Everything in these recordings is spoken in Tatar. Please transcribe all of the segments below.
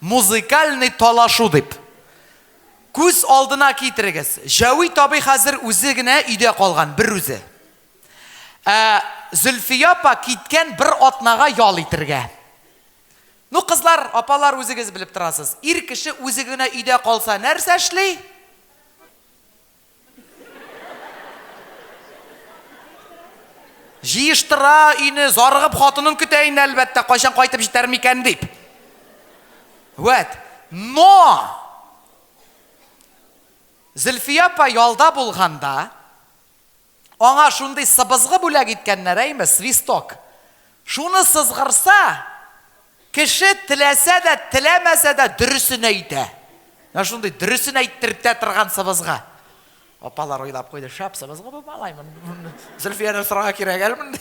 Музыкальный талашу дип. Күз алдына китерегез, Җәвит абый хәзер үзе генә өйдә калган, берүзе. Ә Зөлфия апа киткән бер атнага ял итергә. Ну, кызлар, апалар үзегез белеп торасыз. Ир кеше үзе генә өйдә калса нәрсә эшли? Җыештыра өйне, зарыгып хатынын көтә инде, әлбәттә, кайчан кайтып җитәр микән дип. Вәт, но! Зөлфия апа ялда булганда, Аңа шундый сыбызгы бүләк иткәннәр, әйме, свисток. Шуны сызгырса, кеше теләсә дә, теләмәсә дә дөресен әйтә. Менә шундый дөресен әйттертә торган сыбызга. Апалар уйлап куйды, шәп сыбызгы бу малай. Зөлфияне сорарга кирәк әле монда.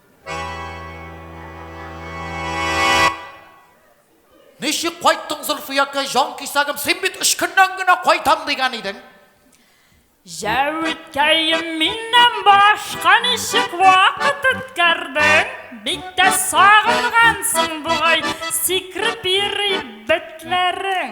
Ничек кайттың, Зөлфиякә, җан кисәгем, син бит өч көннән генә кайтам дигән идең. Җәвиткәем миннән башка ничек вакыт үткәрдең? Бик тә сагынгансың бугай, сикреп йөри бетләрең.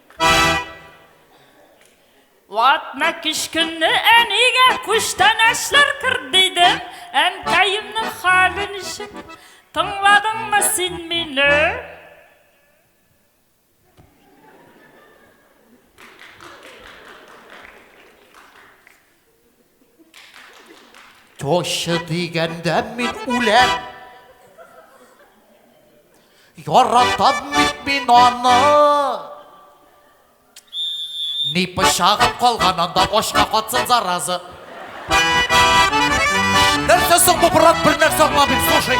Ватна кич көнне әнигә күчтәнәчләр кер дидем, әнкәемнең хәле ничек? Тыңладыңмы син мине? Тошчы дигәндә мин үләм. Яратам бит мин аны. Ни пычагым калган анда ашка катсын заразы. Нәрсә соң бу брат бер нәрсә аңламыйм, слушай.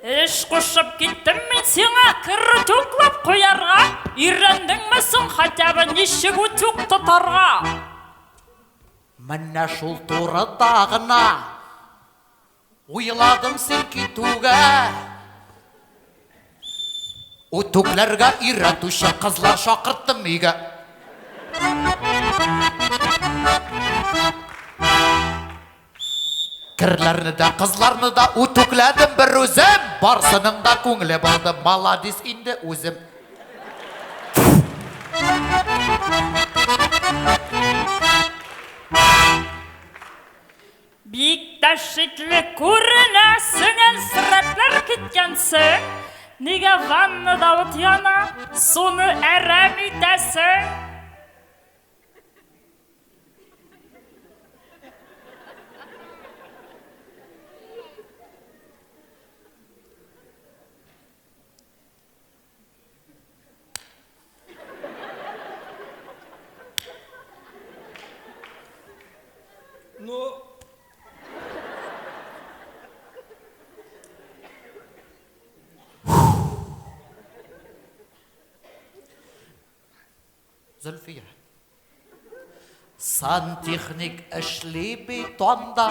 Эш кушып киттем мин сиңа керүт юклап куярга. Өйрәндеңме соң хотя бы ничек утюг тотарга? Менә шул турыда гына уйладым син китүгә. Үтүкләргә өйрәтүче кызлар шакырттым өйгә. Керләрне дә, кызларны да үтүкләдем бер үзем. Барсының да күңеле булды, маладис инде үзем. Бик тә шикле күренәсең, Әлсерәпләр киткәнсең. Нигә ваннада ут яна, суны әрәм итәсең? Ну, Зөлфия. Сантехник эшли бит анда.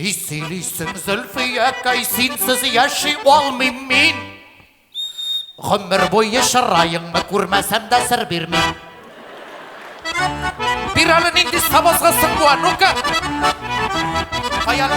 Ни сөйлисең, Зөлфиякай, синсез яши алмыйм мин. Гомер буе чыраеңны күрмәсәм дә сер бирмим. Бир әле нинди сабазга сыңгуа, ну-ка! Каян?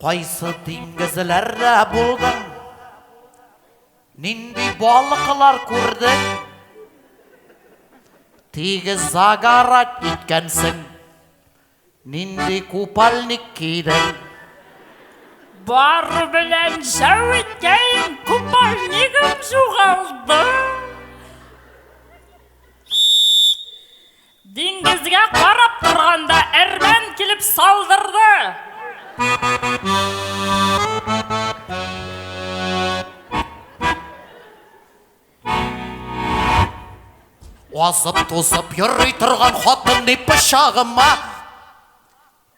Кайсы диңгезләрдә булдың? Нинди балыклар күрдең? Тигез загарат иткәнсең. Нинди купальник кидең? Бар белән шәү иткән купальнигым югалды. Диңгезгә карап торганда әрмән килеп салдырды. Азып тузып йөрри торган хатын ди пычагыма.